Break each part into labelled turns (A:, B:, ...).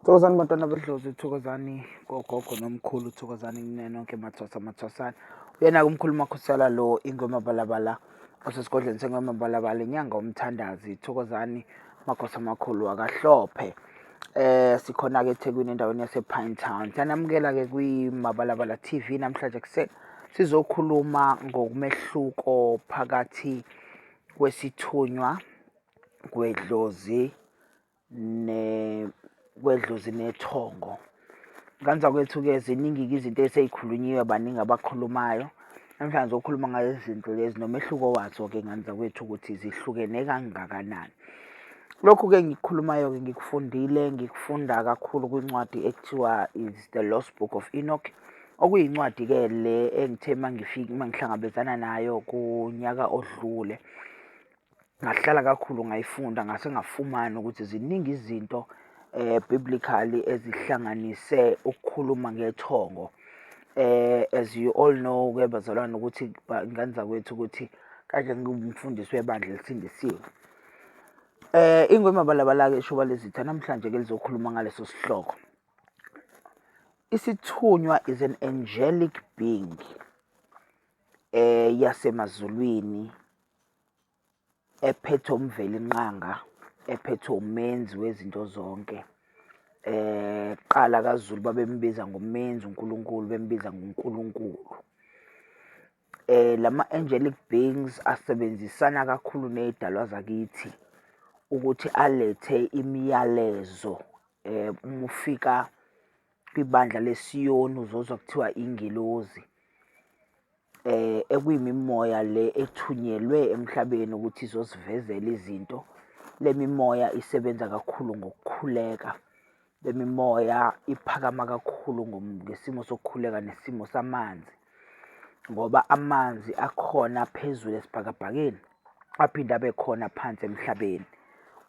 A: Thokozani bantwana bedlozi thokozani kogogo nomkhulu thokozani kune nonke mathwasa mathwasana uyena-ke umkhulu makhosala lo ingoma balabala osesigodlweni sengoma balabala inyanga umthandazi thokozani makhosi amakhulu akahlophe eh sikhona-ke ethekwini endaweni yasepine town siyanamukela-ke kwimabalabala t v namhlanje kuseni sizokhuluma ngokumehluko phakathi kwesithunywa kwedlozi kwedlozi nethongo. Kanza kwethu-ke ziningi-ke izinto eseyikhulunyiwe baningi abakhulumayo. Namhlanje okhuluma ngayo izinto lezi nomehluko wazo-ke nganza kwethu ukuthi zihlukene kangakanani. Lokhu-ke engikukhulumayo-ke ngikufundile ngikufunda kakhulu kwincwadi ekuthiwa is the lost book of enoch okuyincwadi-ke le engithe mangifike mangihlangabezana nayo kunyaka odlule Ngahlala kakhulu ngayifunda ngase ngafumana ukuthi ziningi izinto biblically ezihlanganise ukukhuluma ngethongo. As you all know-ke bazalwane ukuthi iy'ngane zakwethu ukuthi kade ngiwumfundisi webandla elisindisiwe. Ingwe Mabalabala-ke ishuba lezitha namhlanje-ke lizokhuluma ngaleso sihloko. Isithunywa is an angelic being yasemazulwini ephethe uMvelinqanga ephethe umenzi wezinto zonke eh qala kaZulu babembiza ngomenzi uNkulunkulu bembiza ngoNkulunkulu eh lama angelic beings asebenzisana kakhulu nezidalwa zakithi ukuthi alethe imiyalezo eh uma ufika kwibandla lesiyoni uzozwa kuthiwa ingelozi eh ekuyimimoya le ethunyelwe emhlabeni ukuthi izosivezela izinto lemimoya isebenza kakhulu ngokukhuleka lemimoya iphakama kakhulu ngesimo sokukhuleka nesimo samanzi ngoba amanzi akhona phezulu esibhakabhakeni aphinde abe khona phansi emhlabeni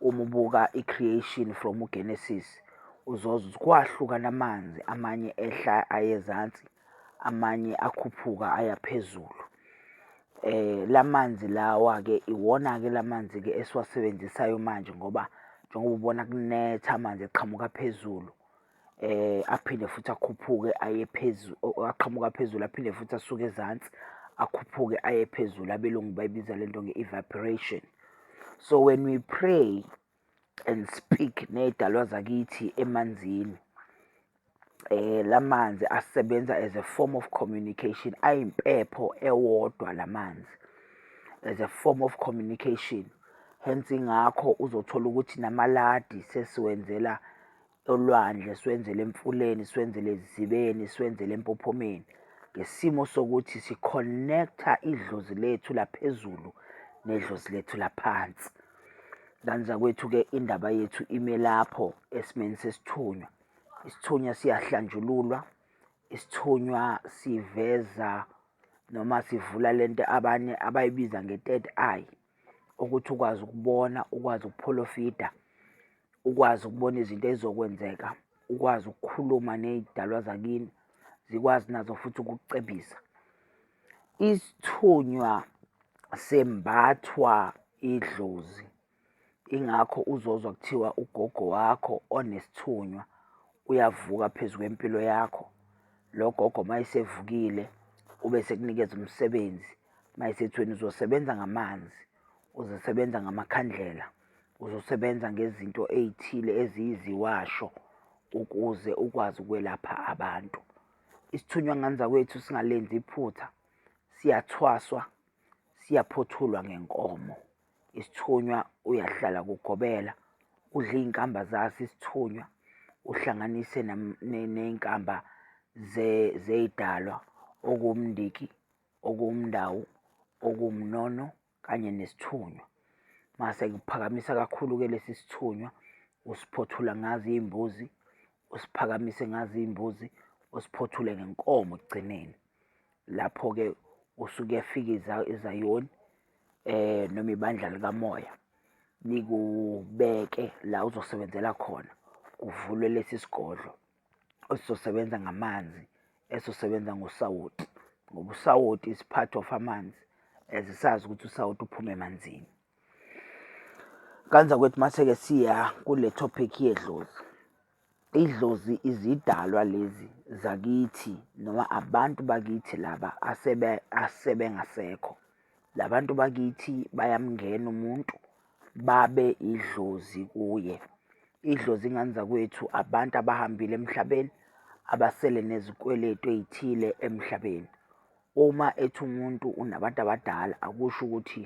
A: uma ubuka i-creation from ugenesis uzoze kwahlukana amanzi amanye ehla ayezansi amanye akhuphuka aya phezulu. Eh lamanzi lawa ke iwona ke lamanzi ke esiwasebenzisayo manje ngoba njengoba ubona kunetha amanzi eqhamuka phezulu eh aphinde futhi akhuphuke aye phezulu aqhamuka phezulu aphinde futhi asuke ezansi akhuphuke aye phezulu abelungu bayibiza lento nge-evaporation. So when we pray and speak ney'dalwa zakithi emanzini. La manzi asebenza as a form of communication, ayimpepho ewodwa la manzi as a form of communication. Hence ingakho uzothola ukuthi namaladi sesiwenzela olwandle, siwenzele emfuleni, siwenzele ezizibeni, siwenzele empophomeni ngesimo sokuthi si-connect-a idlozi lethu laphezulu nedlozi lethu laphansi. Ngane zakwethu-ke indaba yethu ime lapho esimeni sesithunywa. Isithunywa siyahlanjululwa, isithunywa siveza noma sivula le nto abanye abayibiza nge-third eye. ukuthi ukwazi ukubona ukwazi ukupholofida ukwazi ukubona izinto ezizokwenzeka ukwazi ukukhuluma ney'dalwa zakini zikwazi nazo futhi ukucebisa isithunywa sembathwa idlozi ingakho uzozwa kuthiwa ugogo wakho onesithunywa uyavuka phezu kwempilo yakho lo gogo uma esevukile ube sekunikeza umsebenzi Mayisethweni uzosebenza ngamanzi, uzosebenza ngamakhandlela, uzosebenza ngezinto ey'thile eziyiziwasho ukuze ukwazi ukwelapha abantu. Isithunywa ngani zakwethu singalenzi iphutha, siyathwaswa, siyaphothulwa ngenkomo. Isithunywa uyahlala kugobela, udle iy'nkamba zaso isithunywa, uhlanganise ney'nkamba zey'dalwa okuwumndiki okuwumndawu, okuwumnono kanye nesithunywa. Mase kuphakamisa kakhulu-ke lesi sithunywa usiphothula ngazo iy'mbuzi, usiphakamise ngazo iy'mbuzi, usiphothule ngenkomo ekugcineni. Lapho-ke usuke uyafika iZayoni noma ibandla likamoya likubeke la uzosebenzela khona, kuvulwe lesi sigodlo. esizosebenza ngamanzi esizosebenza ngosawoti ngoba usawoti is part of amanzi as sazi ukuthi usawoti uphume emanzini kanza kwethu mase-ke siya kule topic yedlozi idlozi izidalwa lezi zakithi noma abantu bakithi laba asebe asebengasekho labantu bakithi bayamngena umuntu babe idlozi kuye. Idlozi ingane zakwethu abantu abahambile emhlabeni abasele nezikweletu ey'thile emhlabeni. Uma ethi umuntu unabantu abadala akusho ukuthi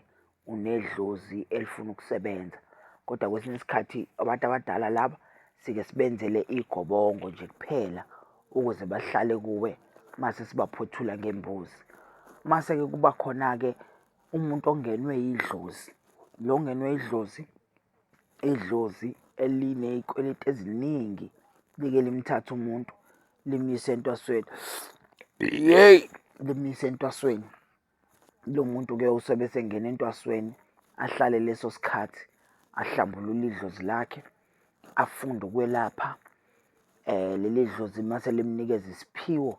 A: unedlozi elifuna ukusebenza, kodwa kwesinye isikhathi abantu abadala laba sike sibenzele igobongo nje kuphela ukuze bahlale kuwe mase sibaphothula ngembuzi. Mase-ke kuba khona-ke umuntu ongenwe yidlozi lo ongenwe yidlozi idlozi eliney'kweleti eziningi like limthathe umuntu limyise entwasweni yeyi limyise entwasweni lo muntu-ke usobe esengena entwasweni ahlale leso sikhathi ahlambulule idlozi lakhe afunde ukwelapha um leli dlozi mase limnikeza isiphiwo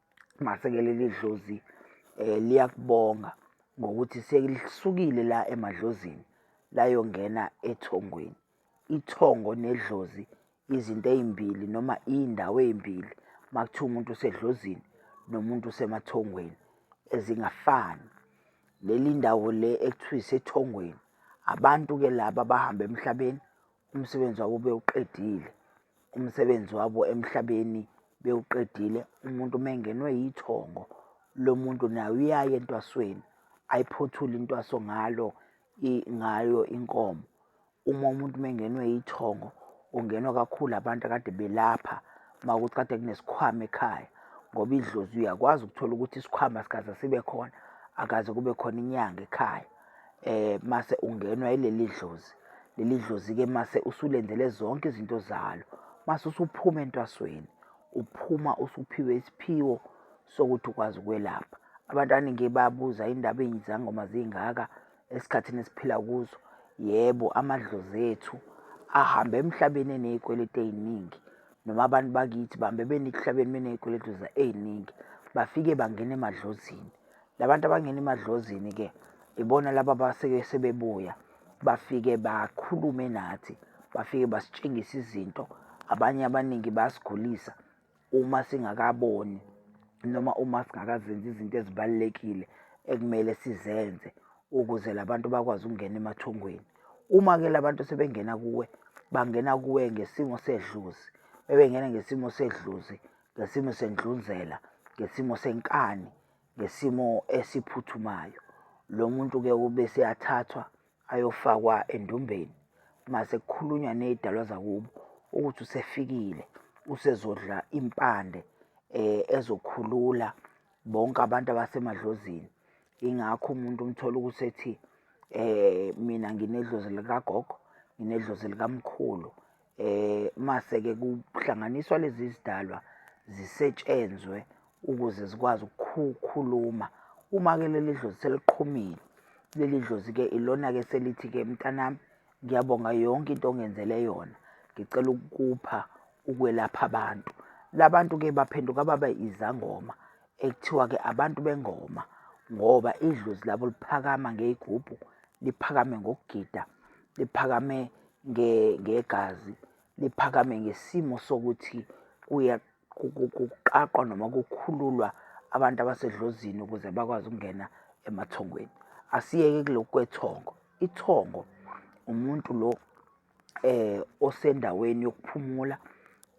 A: Mase-ke leli dlozi um liyakubonga ngokuthi selisukile la emadlozini layongena ethongweni. Ithongo nedlozi izinto ey'mbili noma iy'ndawo ey'mbili uma kuthiwa umuntu usedlozini nomuntu usemathongweni ezingafani. Leli ndawo le ekuthiwa isethongweni abantu-ke laba abahamba emhlabeni Umsebenzi wabo bewuqedile. Umsebenzi wabo emhlabeni bewuqedile. Umuntu uma engenwe yithongo lo muntu naye uyaye entwasweni ayiphothule intwaso ngalo ngayo inkomo. Uma umuntu uma engenwe yithongo ungenwa kakhulu abantu akade belapha uma ukuthi kade kunesikhwama ekhaya ngoba idlozi uyakwazi ukuthola ukuthi isikhwama sikaze sibe khona akaze kube khona inyanga ekhaya. mase ungenwa yileli dlozi. Leli dlozi-ke mase usulenzele zonke izinto zalo. Mase usuphuma entwasweni, uphuma usuphiwe isiphiwo sokuthi ukwazi ukwelapha. Abantu abaningi babuza indaba izangoma zingaka esikhathini esiphila kuzo. Yebo, amadlozi ethu ahambe emhlabeni eney'kweletu ey'ningi noma abantu bakithi bahambe benikuhlabeni beney'kweletu ey'ningi. Bafike bangena emadlozini Labantu abangena emadlozini ke ibona laba abaseke sebebuya bafike bakhulume nathi bafike basitshengisa izinto abanye abaningi bayasigulisa uma singakaboni noma uma singakazenzi izinto ezibalulekile ekumele sizenze ukuze labantu bakwazi ukungena emathongweni uma ke labantu sebengena kuwe bangena kuwe ngesimo sedluzi bebengena ngesimo sedluzi ngesimo sendlunzela ngesimo senkani ngesimo esiphuthumayo. Lo muntu-ke ube seyathathwa ayofakwa endumbeni uma sekukhulunywa ney'dalwa zakubo ukuthi usefikile usezodla impande um ezokhulula bonke abantu abasemadlozini. Ingakho umuntu umthola ukuthi ethi um mina nginedlozi likagogo, nginedlozi likamkhulu. Eh mase ke kuhlanganiswa lezi zidalwa zisetshenzwe ukuze zikwazi ukukhuluma uma ke leli dlozi seliqhumile leli dlozi ke ilona ke selithi ke mntanami ngiyabonga yonke into ongenzele yona ngicela ukukupha ukwelapha abantu labantu ke baphenduka baba izangoma ekuthiwa ke abantu bengoma ngoba idlozi labo liphakama ngeyigubhu liphakame ngokugida liphakame ngegazi liphakame ngesimo sokuthi kuqaqwa noma kukhululwa abantu abasedlozini ukuze bakwazi ukungena emathongweni asiyeke kulokhu kwethongo ithongo umuntu lo eh osendaweni yokuphumula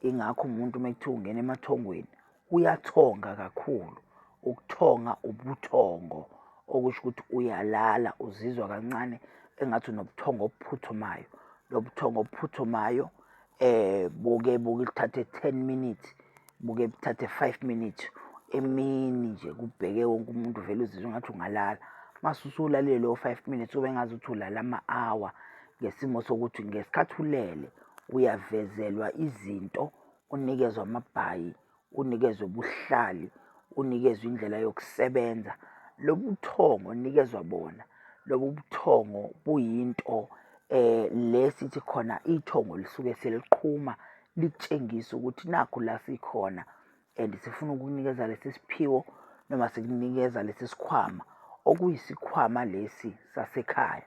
A: ingakho umuntu uma kuthiwa ungena emathongweni Kuyathonga kakhulu. Ukuthonga ubuthongo okusho ukuthi uyalala uzizwa kancane engathi unobuthongo obuphuthumayo. Lobu buthongo obuphuthumayo um buke buke kuthathe ten minutes, buke buthathe five minutes. Emini nje kubheke wonke umuntu uvele uzizwe engathi ungalala. Mase usulalile lowo five minutes ube engazuthi ulale ama-hour ngesimo sokuthi ngesikhathi ulele uyavezelwa izinto unikezwe amabhayi unikezwe ubuhlali unikezwe indlela yokusebenza lobu buthongo onikezwa bona lobu buthongo buyinto eh le sithi khona ithongo lisuke seliqhuma litshengisa ukuthi nakho la sikhona and sifuna ukunikeza lesi siphiwo noma sikunikeza lesi sikhwama okuyisikhwama lesi sasekhaya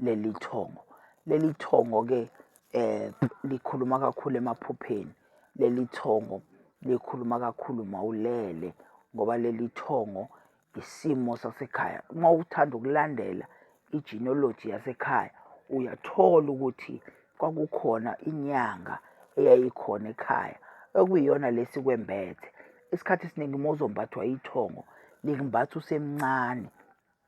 A: leli thongo leli thongo ke eh likhuluma kakhulu emaphupheni leli thongo likhuluma kakhulu mawulele ngoba leli thongo isimo sasekhaya uma uthanda ukulandela igenealogy yasekhaya uyathola ukuthi kwakukhona inyanga eyayikhona ekhaya okuyiyona lesi kwembethe isikhathi esiningi uma uzombathwa ithongo likumbatha usemncane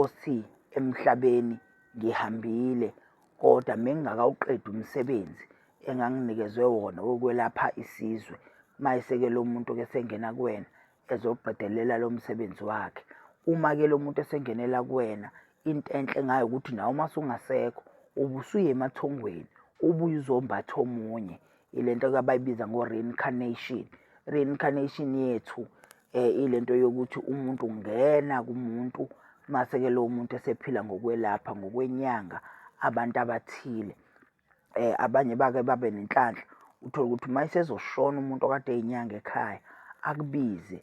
A: othi emhlabeni ngihambile kodwa mengingakawuqedi umsebenzi enganginikezwe wona wokwelapha isizwe. Mayese-ke lo muntu-ke esengena kuwena ezoqedelela lo msebenzi wakhe. Uma-ke lo muntu esengenela kuwena into enhle ngayo ukuthi nawe uma sungasekho ubusuye emathongweni ubuye uzombatha omunye. Ile nto-ke abayibiza ngo-reincarnation. Reincarnation yethu um ile nto yokuthi umuntu ungena kumuntu mase-ke lowo muntu esephila ngokwelapha ngokwenyanga abantu abathile um abanye bake babe nenhlanhla uthole ukuthi uma esezoshona umuntu okade eyinyanga ekhaya akubize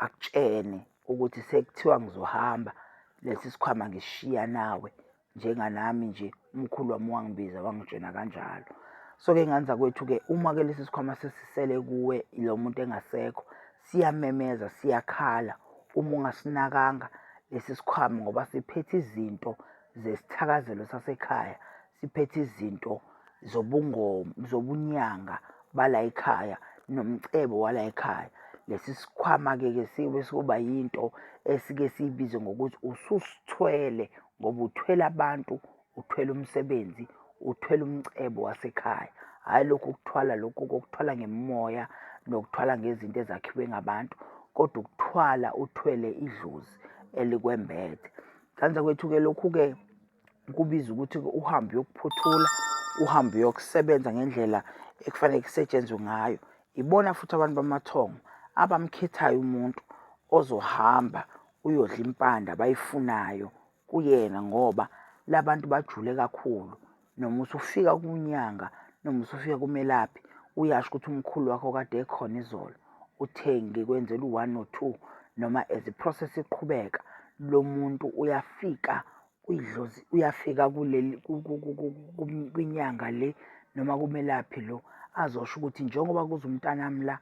A: akutshene ukuthi sekuthiwa ngizohamba lesi sikhwama ngisishiya nawe njenganami nje umkhulu wami wangibiza wangijena kanjalo so-ke ngane zakwethu-ke uma-ke lesi sikhwama sesisele kuwe ilo muntu engasekho siyamemeza siyakhala uma ungasinakanga lesi sikhwama ngoba siphethe izinto zesithakazelo sasekhaya siphethe izinto zobungoma zobunyanga bala ekhaya nomcebo wala ekhaya lesi sikhwama-ke ke siyobe siyoba yinto esike siyibize ngokuthi ususithwele ngoba uthwele abantu uthwele umsebenzi uthwele umcebo wasekhaya hhayi lokhu ukuthwala lokhu kokuthwala ngemoya nokuthwala ngezinto ezakhiwe ngabantu kodwa ukuthwala uthwele idlozi elikwembethe kanza kwethu-ke lokhu-ke kubiza ukuthi uhambe uyokuphothula uhambe uyokusebenza ngendlela ekufanele kusetshenzwe ngayo ibona futhi abantu bamathongo abamkhethayo umuntu ozohamba uyodla impande abayifunayo kuyena ngoba labantu bajule kakhulu noma usufika kunyanga noma usufika kumelaphi uyasho ukuthi umkhulu wakho kade ekhona izolo uthe ngikwenzela u-one or two noma as i-process iqhubeka lo muntu uyafika uyidlozi uyafika kuleli kwinyanga le noma kumelaphi lo azosho ukuthi njengoba kuze umntanami la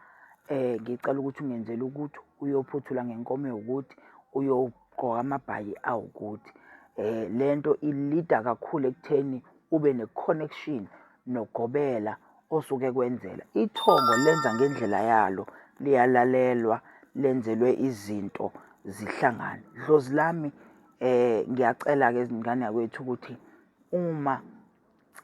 A: um ngicela ukuthi ungenzele ukuthi uyophuthula ngenkomo ewukuthi uyogqoka amabhayi awukuthi um le nto ilida kakhulu ekutheni ube ne-connection nogobela osuke kwenzela ithongo lenza ngendlela yalo liyalalelwa lenzelwe izinto zihlangane dlozi lami Eh ngiyacela-ke izingane yakwethu ukuthi uma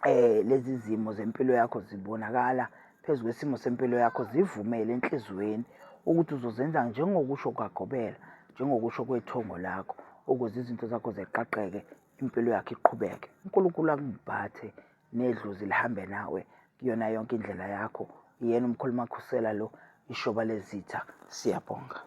A: eh lezi zimo zempilo yakho zibonakala phezu kwesimo sempilo yakho zivumele enhliziyweni ukuthi uzozenza njengokusho kwagobela njengokusho kwethongo lakho ukuze izinto zakho zeqaqeke impilo yakho iqhubeke uNkulunkulu akungiphathe nedlozi lihambe nawe kuyona yonke indlela yakho yena umkhuluma khusela lo ishoba lezitha siyabonga